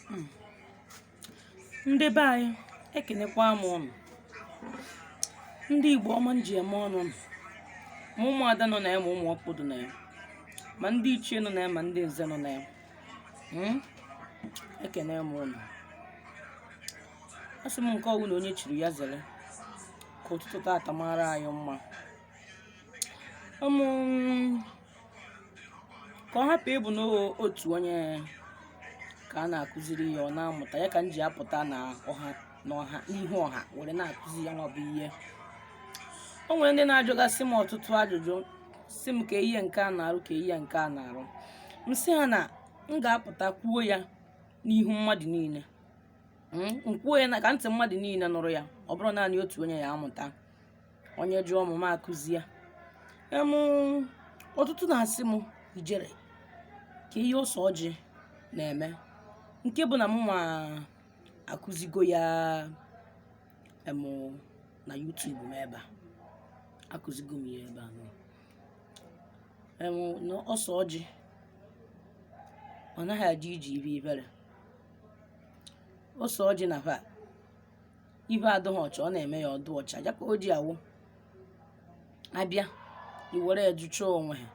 hmm. ndị be anyị ekenekwa m ụnụ ndị igbo ọma m ji eme ọnụ ma ụmụada nọ na ya ma ụmụ ọkpụ dụ na ya ma ndị ichie nọ na ya ma ndị nze nọ na ya hmm? ekene m ụnụ asị m nke ọwụna onye chiri ya zere ka ụtụtụ taata mara anyị mma hmm ka ọ hapụ ịbụ n'otu onye ka a na-akụziri ya ọ na-amụta ya ka m ji apụta n'ihu ọha were na-akụzi ya nwa bụ ihe o nwere ndị na-ajụgasị m ọtụtụ ajụjụ sị m kee ihe nke a na-arụ kee ihe nke a na-arụ m sị ha na m ga-apụta kwuo ya n'ihu mmadụ niile m kwuo ya na ka ntị mmadụ niile nụrụ ya ọ bụrụ naanị otu onye ya amụta onye jụọ m m akụzi ya em ọtụtụ na-asị m ijere kee ihe ose ọjị na-eme nke bụ na m nwa akụzigo ya em na YouTube m ebe a akụzigo m ya ebe a nọ em na ose ọjị ọ naghị adị iji ibe ibere ose ọjị na va ihe adịghị ọcha ọ na-eme ya ọ dụ ọcha ya ka o ji awụ abịa iwere ejucha onwe ha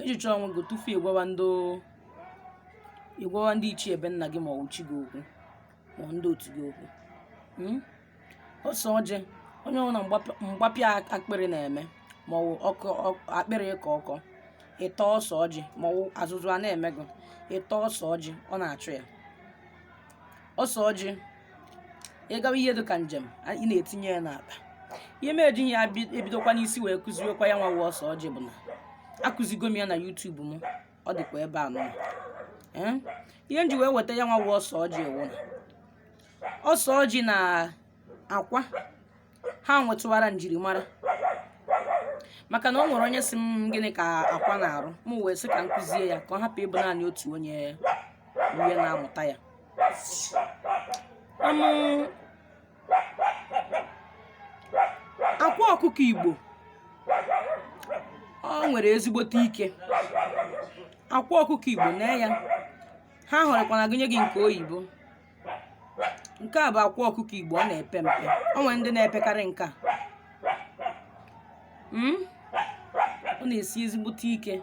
ejucha onwe gị tufu ịgwawa ndị ichie ebe nna gị ma ọ chi gị okwu ma ndị otu gị okwu hmm? ose ọjị onye ọbụla mgbapịa akpịrị na-eme ma ọ bụ akpịrị ịkọ ọkọ ịta ose ọjị ma ọ azụzụ a na-eme gị ịta ose ọjị ọ na-achụ ya ose ọjị ị gawa ihe dị ka njem a- ị na-etinye ya n'akpa ihe m ejighị ya bi- ebidokwa n'isi wee kụziwekwa ya nwa wụ ose ọjị bụ na akụzigo m ya na YouTube m ọ dịkwa ebe a nọ Ee? ihe m ji wee weta ya nwa wụ ose ọjị wụ na ose ọjị na akwa ha nwetụwara njirimara maka na o nwere onye sị m gịnị ka akwa na-arụ m wee sị ka m kụzie ya ka ọ hapụ ịbụ naanị otu onye onye na-amụta ya akwa ọkụkọ igbo o nwere ezigbote ike akwa ọkụkọ igbo na ya ha hụrụkwana gụnye gị nke oyibo nke a bụ akwa ọkụkọ igbo ọ na-epe mpe o nwere ndị na-epekarị nke a hmm? ọ na-esi ezigbote ike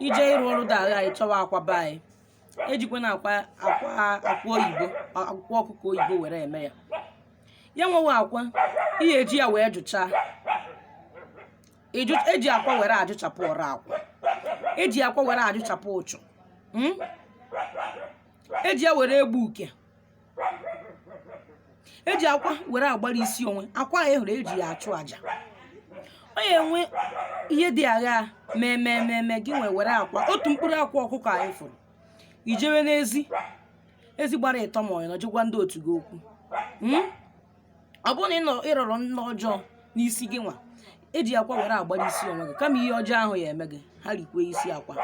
ije ịrụ ọrụ dị agha ị chọwa akwa be anyị ejikwana akwa akwa oyibo akwa ọkụkọ oyibo were eme ya ya nwa wụ akwa ihe eji ya wee jụchaa eji akwa were ajụchapụ ọrụ akwụ eji akwa were ajụchapụ uchu hmm? eji ya were egbu uke eji akwa were agbara isi onwe akwa a ị hụrụ eji ya achụ aja ọ ya enwe ihe dị agha mee gị ị were akwa otu mkpụrụ akwa ọkụkọ a ị fụrụ i jewe n'ezi ezi gbara ịtọ ma ọ wụ ịnọ jee gwa ndị otu gị okwu Hmm? ọ bụrụ na ị nọ- ị rọrọ nrọ ọjọọ n'isi gị nwa eji akwa were agbara isi onwe gị kama ihe ọjọọ ahụ ya eme gị ha rikwe isi akwa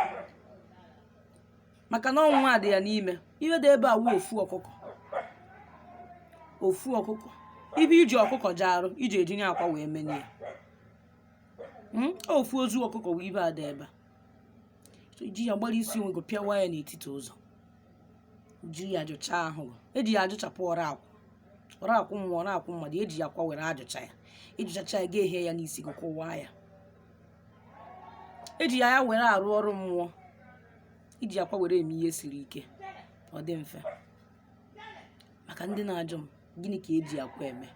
maka na ọ wụ nwa dị ya n'ime ihe dị ebe a wụ ofu ọkụkọ ofu ọkụkọ ibe iji ọkụkọ ji arụ iji ejinye akwa wee menye ya Mm, ofu ozu ọkụkọ wụ ibe dị ebe a So, i ji ya agbara isi onwe gị pịawa ya n'etiti ụzọ jiri ya jụcha ahụ gị. eji ya ajụchapụ ọrụ akwụ ọrụ akwụ mmụọ ọrụ akwụ mmadụ eji akwa were ajụcha ya ị jụchachaa ya ga-ehie ya n'isi gị kụwaa ya eji ya ya were arụ ọrụ mmụọ iji akwa were eme ihe siri ike ọ dị mfe maka ndị na-ajụ m gịnị ka eji akwa eme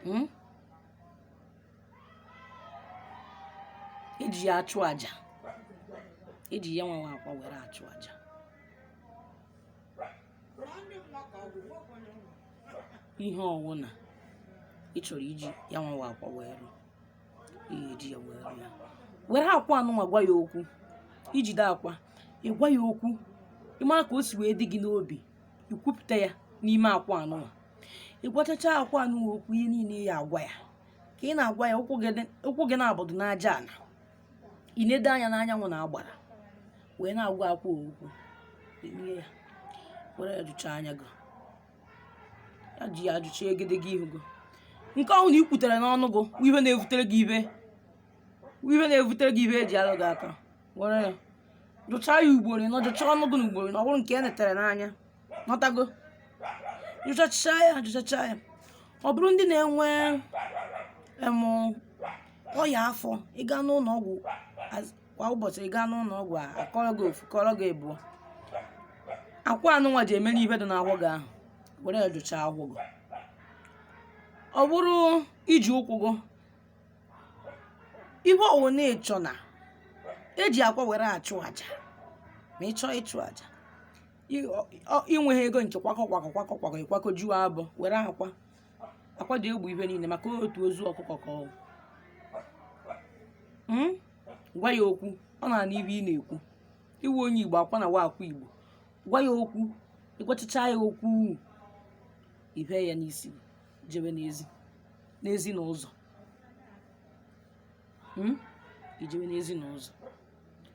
Hmm? eji ya achụ aja eji ya nwa wụ akwa were achụ aja ihe ọwụna ị chọrọ iji ya nwa wụ akwa wee rụọ iji ya wee rụọ ya were akwa anụnwa gwa ya okwu i jide akwa ị gwa ya okwu ị mara ka o si wee dị gị n'obi i kwupụta ya n'ime akwa anụnwa ị gwachacha akwa anụnwa okwu ihe niile ị ya-agwa ya ka ị na-agwa ya ụkwụ gị nabọ dụ n'aja ana i nedo anya n'anyanwụ na agbara wee na-agwa akwa okwu ya were ya jụchaa anya gị ya ji ya ajụcha egedege ihu gị nke ọ wụna i kwutere n'ọnụ gị ihe na-ebutere gị ibe eji alụ gị aka were ya jụchaa ya ugboro ịnọ jụchaa ọnụ gị n'ugboro ịnọ ọ bụrụ nke e netere n'anya n'otu aka ahụ jụchachaa ya jụchachaa ya ọ bụrụ ndị na-enwe em ọya afọ ị gaa n'ụlọ ọgwụ kwa ụbọchị ị gaa n'ụlọ ọgwụ a kọọrọ gị ofu kọọrọ gị ịbụọ akwa anụnwa eji eme ibe dị n'ahụ gị ahụ were ya jụchaa ahụ gị ọ bụrụ iji ụkwụ gị ibe ọ wụna ị chọ na eji akwa were achụ aja ma ị chọọ ịchụ aja ị- ọ- ọ- inweghị ego nke kwakọ kwakọ kwakọ kwakọ ị kwakọ juo abọ were akwa akwa dị egbu ibe niile maka otu ozu ọkụkọ ka ọ wụ. Mm? gwa ya okwu ọ na-anụ ibe ị na-ekwu ị wụ onye igbo akwa nwa wụ akwa igbo gwa ya okwu ị gwachicha ya okwu i fee ya n'isi jebe n'ezi n'ezi na ụzọ Hmm? i jebe n'ezi na ụzọ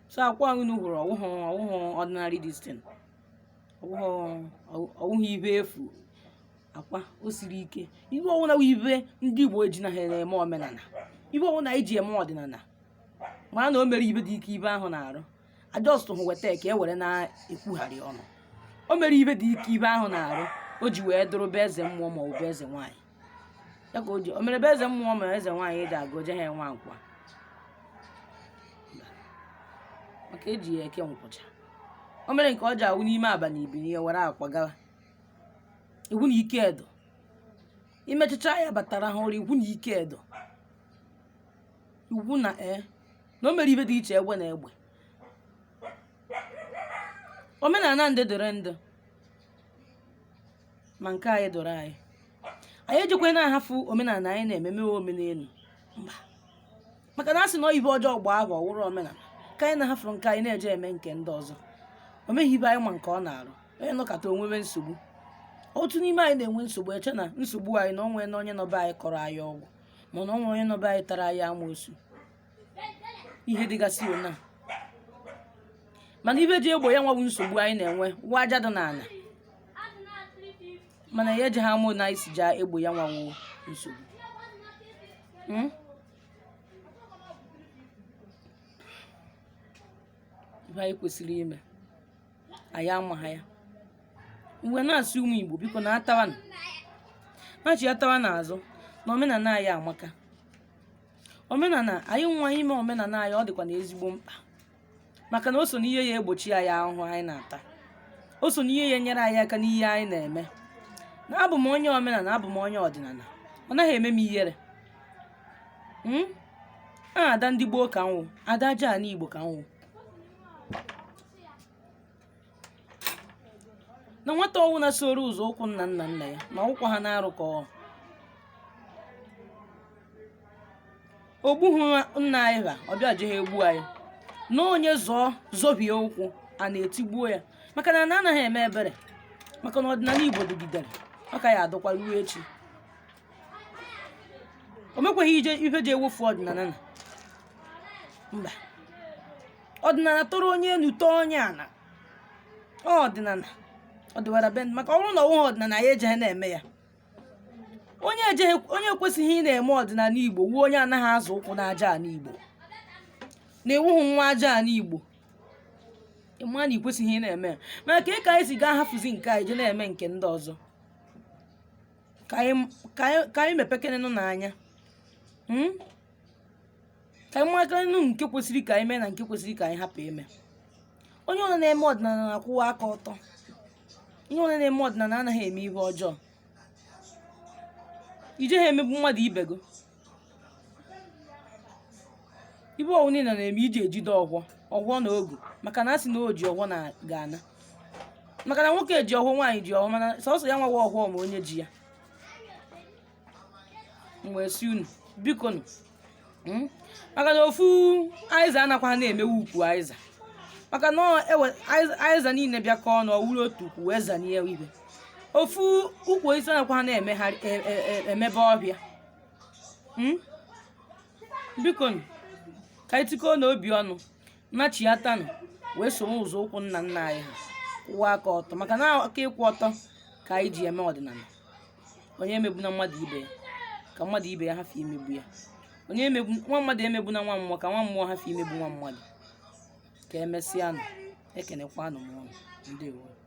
so akwa ahụ unu hụrụ ọ wụhụ ọ wụhụ ordinary this thing ọ wụhụ ọ wụhụ ibe efu akwa o siri ike ibe ọ wụna ibe ndị Igbo eji na ha eme omenala ibe ọ wụna e ji eme ọdịnala ma na o nwere ibe dị ike ibe ahụ na-arụ a just hụ weta ka e were na-ekwugharị ọnụ o nwere ibe dị ike ibe ahụ na-arụ o ji wee dụrụ be eze mmụọ ma ọ bụ eze nwaanyị ya ka o ji o nwere be eze mmụọ ma eze nwaanyị eji aga oje ha nwa akwa maka eji ya eke nkwụcha o nwere nke ọ ji awụ n'ime abalị i birie were akwa gawa ị hụ na ike edo i mechicha ya bata rahụ ụra ị hụ na ike edo ị hụ na e na o nwere ibe dị iche egbe na egbe omenala ndị doro ndị ma nke anyị doro anyị anyị ejikwana ahafụ omenala anyị na-ememe omenelu mba maka na a sị na ibe ọjọọ gbaa afọ ọ wụrụ omenala ka anyị na-ahafụrụ nke anyị na-eje eme nke ndị ọzọ o nweghị ibe anyị ma nke ọ na-arụ onye nọkọta o nwebe nsogbu otu n'ime anyị na-enwe nsogbu eche na nsogbu anyị na o nwena onye nọ be anyị kọrọ anyị ọgwụ ma na o nwe onye nọ be anyị tara anyị amoosu ihe dịgasị ona mana ibe ji egbo ya nwa wụ nsogbu anyị na-enwe nwa aja dị n'ala mana ya eji ha amụ na anyị si ja-egbo ya nwa wụ nsogbu hmm? ihe anyị kwesịrị ime anyị amaha ya m wee na-asị ụmụ igbo biko naatawanụ nachịatawanụ azụ na omenala anyị amaka omenala anyị nwa ime omenala anyị ọ dịkwanụ ezigbo mkpa maka na o so n'ihe ya-egbochi anyị ahụhụ anyị na-ata o so n'ihe ya-enyere anyị aka n'ihe anyị na-eme na abụ m onye omenala abụ m onye ọdịnala ọ naghị eme m ihere Hmm? a ada ndị gboo ka m wụ ada aja ala igbo ka m wụ na nwata ọwụna soro ụzọ ụkwụ nna nna nna ya na ụkwụ ha na-arụ ka ọ ogbughị nna anyị ha ọ bịa jeghị egbu anyị na onye zọọ zọhie ụkwụ ana etigbuo ya maka na ana anaghị eme ebere maka na ọdịnala igbo dịgidere ọ ka ya adịkwa ruo echi o nwekwaghị ije ife ji ewefu ọdịnala na mba ọdịnala tọrọ onye elu tọọ onye ala ọdịnala ọdịwara be maka ọ bụrụ na ọ wụghị ọdịnala anyị ejeghị na-eme ya onye ejeghị onye ekwesịghị ị na-eme ọdịnala igbo wụ onye anaghị azọ ụkwụ n'aja ala igbo na ị wụghị nwa aja ala igbo ị ma na i kwesịghị ị na-eme ya mana ka ị ka anyị si gaa hafụzi nke anyị je na-eme nke ndị ọzọ ka anyị ka anyị ka anyị mepekene nụ anya Mm? ka anyị mara nụ nke kwesịrị ka anyị mee na nke kwesịrị ka anyị hapụ ime onye ọwụla na-eme ọdịnala na-akwụwa aka ọtọ onye ọwụla na-eme ọdịnala anaghị eme ihe ọjọọ i jeghị emegbu mmadụ ibe gị ife ọwụna ị na-eme i je ejide ọfọ ọfọ na ogu maka na a sị na o ji ọfọ na ga-ana maka na nwoke ji ọfọ nwaanyị ji ọfọ mana sọsọ ya nwa wụ ọfọ ma onye ji ya m wee sị unu biko nụ mm, maka na ofu aịza anakwaghị emewe ukwu aịza maka na ọ ewe- aịza- aịza niile bịakọ ọnụ ọ wụrụ otu ukwu wee zanie ife ofu ukwu osisi anakwaghị emegharị e- e- e- emebe ọhịa Mm? biko nụ ka anyị tikọọnụ obi ọnụ nachiatanụ wee soro ụzọ ụkwụ nna nna anyị ha kwụwa aka ọtọ maka na aka ịkwụ ọtọ ka anyị ji eme ọdịnala onye emegbuna mmadụ ibe ya ka mmadụ ibe ya hafụ imegbu ya onye emegbu nwa mmadụ emegbuna nwa mmụọ ka nwa mmụọ hafụ imegbu nwa mmadụ ka e mesịanụ ekenekwanụ m unu ndewo